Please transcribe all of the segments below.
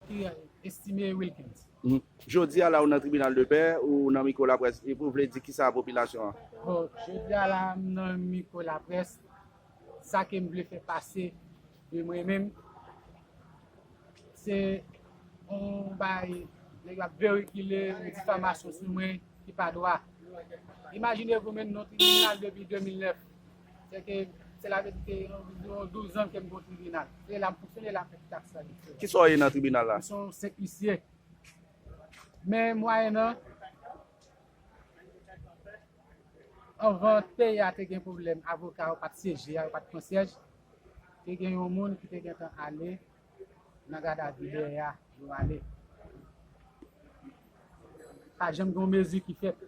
Ki a Estimé Wilkens? Jodi a la ou nan tribinal de pè, ou nan mikwo laprès, epi ou vle di kisa a popilasyon an? Bon, jodi a la m nan mikwo laprès, sa ke m vle fè pase de mwen menm, se yon bagay nèg la verikile yon difamasyon sou mwen ki pa dwa. Imajine vou menm nou tribinal depi 2009. Se ke, sela vle di ke yon anviwon 12 an ke m gen yon tribinal. Se la m fonksyone, la m fè tout aksyon administratif. Ki sa w ye nan tribinal la? Mwen se yon senp isye. Men mwayennan, anvan peyi a te gen pwoblèm, avoka yo pa t syeje a, yo pa t pran syèj, te gen yon moun ki te gentan ale nan gadavi dèyè a, yo ale. Pa janm gen yon mezi ki fèt.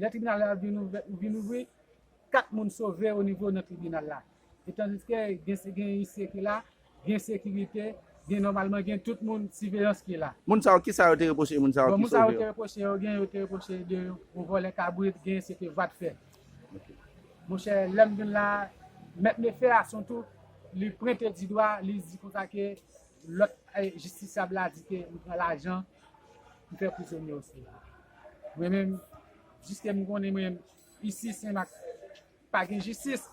Lè tribinal la vin ouvri, 4 moun sove o nivo nan tribinal la. Etandiske gen seyise ki la, gen sekirite, gen nòmalman gen tout moun siveyans ki la. Moun sa yo, ki sa yo te repwoche moun sa yo ki sove yo? Bon, moun sa yo te repwoche yo, gen yo te repwoche de yo vòlè kabrit, gen yo se te vat fè. Monchè, lè m vin la, mèt Nefè a son tou, li pwente di dwa, li di konsa ke Lòt jistisyab la di ke li pran lajan pou fè prizonye yo swiv li. Mwen menm, jiske m konnen mwen, isi Senmak pa gen jistis,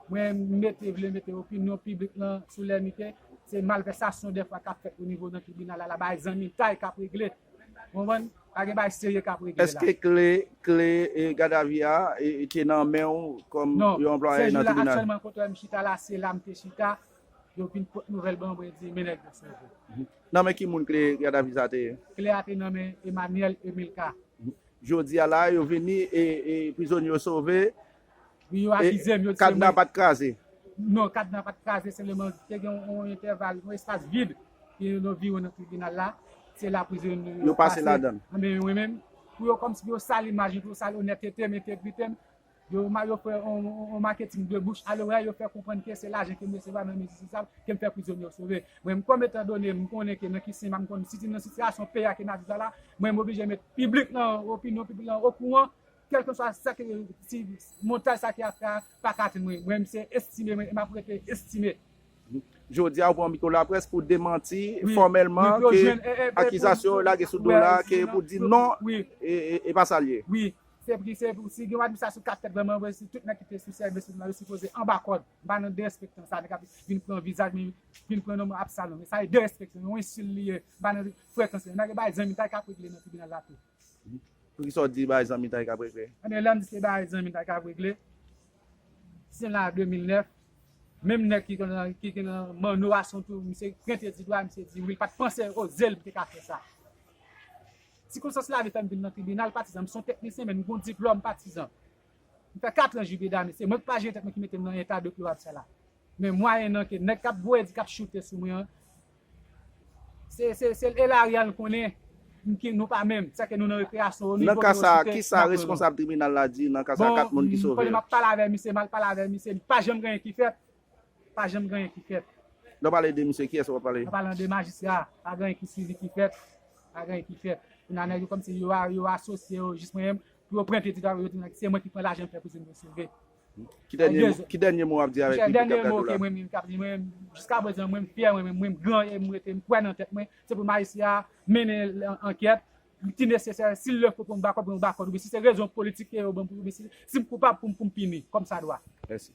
mwen mete vle mete opinyon piblik lan sou lèmi ke se malvèsasyon dèfwa k ap fèt onivo nan tribinal la, la bay zanmitay k ap regle. Ou konprann? Pa gen bagay serye k ap regle la. Eske kle, kle gadavi a te nan men ou kòm yon anplwaye nan tribinal? Non. Sè jou la aktyèlman kote m chita la, se la m te chita. Yo vin pot nouvèl ban mwen di men nèg yo sove. Nan men ki moun kle Gad a vi sa te ye? Kle a te nan men Emmanuel Emilka. Jodi a la a yo vini e prizonye yo sove. Wi yo akize m yo di se mwen. Kadna pat kraze? Non kadna pat kraze seleman te gen yon entèval yon espas vid ki te nan viwo nan tribinal la se la prizonye yo pase. Yo pase ladan l. Anben mwen menm pou yo kòmsi pou yo sal imaj mwen pou yo sal onètete m entegrite m Yo rma yo fè on marketing de bouche a loray yo fè konprann ke se lajan kem resevwa nan men Jistis la kem fè prizonye yo sove. Mwen kom etan done mkonnen ke nan ki sen map konn sitim nan sitiyasyon peyi a ke nap viv la la mwen moblije met piblik lan opinyon piblik lan okouran kelkeswa sake si montaj sa ki ap fè a paka atenn mwen mwen mse estime mwen e map rete estime. Jodia ou pran mikro laprès pou demanti fòmèlman ke akizasyon yo lage sou do w la ke pou di non e pa sa l ye. Se vre se vre si gen yon administrasyon kap fèt vrèman vre si tout nèg ki te sou sèvis la yo sipoze anba kòd m pa nan derespektan sa nèg ap vin pran vizaj men vin pran nonm absalon men sa e derespektan yon ensil li ye m pa nan frekans li nèg bay zanmitay kap regle nan tribinal la tou. Poukisa w di bay zanmitay kap regle? Ebyen lèm di se bay zanmitay kap regle si n la a 2009 menm nèg ki te nan manno a son tou misye prente di dwa misye di wi l pat panse oze l pou te ka fè sa. Sikonstans lavi fè m vin nan tribinal patizan. M s on teknisyen men m gon diplòm patizan. M fè katran jibe dame. Se mwen k pa jere tèt mwen ki mete m nan eta deplorab sa la. Men mwayennan ke nèg k ap voye di, k ap choute sou mwen an, se l Elarian l konnen m ki nou pa menm. Sèke nou nan rekreyasyon o nivo ke yo site, n ap pran lòt. Bon, m konnen m ap pale avè misye, m al pale avè misye, li pa janm gen anyen ki fèt. pa janm gen anyen ki fèt. Lè w pale de misye, kiyès ou ap pale? Mwen pale de majistra a, pa gen anyen ki sivi ki fèt, pa gen anyen ki fèt. Kou n a nèg yo kòmsi yo asosye yo jis mwen menm, pou yo prente ti travay yo di se mwen ki pran lajan m fè prizon m sove. Ki dènye mo w ap di avèk piblik k ap gade w la? Dènye mo ke mwen menm k ap di, mwen menm jiska prezan mwen m fyè mwen menm, mwen m gran e m rete m kwè nan tèt mwen, se pou majistra a mennen ankèt ki nesesè, si l lè fò pou m ba kòb, mwen ba kòb, oubyen si se rezon politik ke yo ban m, si m koupab pou m pini kòmsadwa. Mèsi.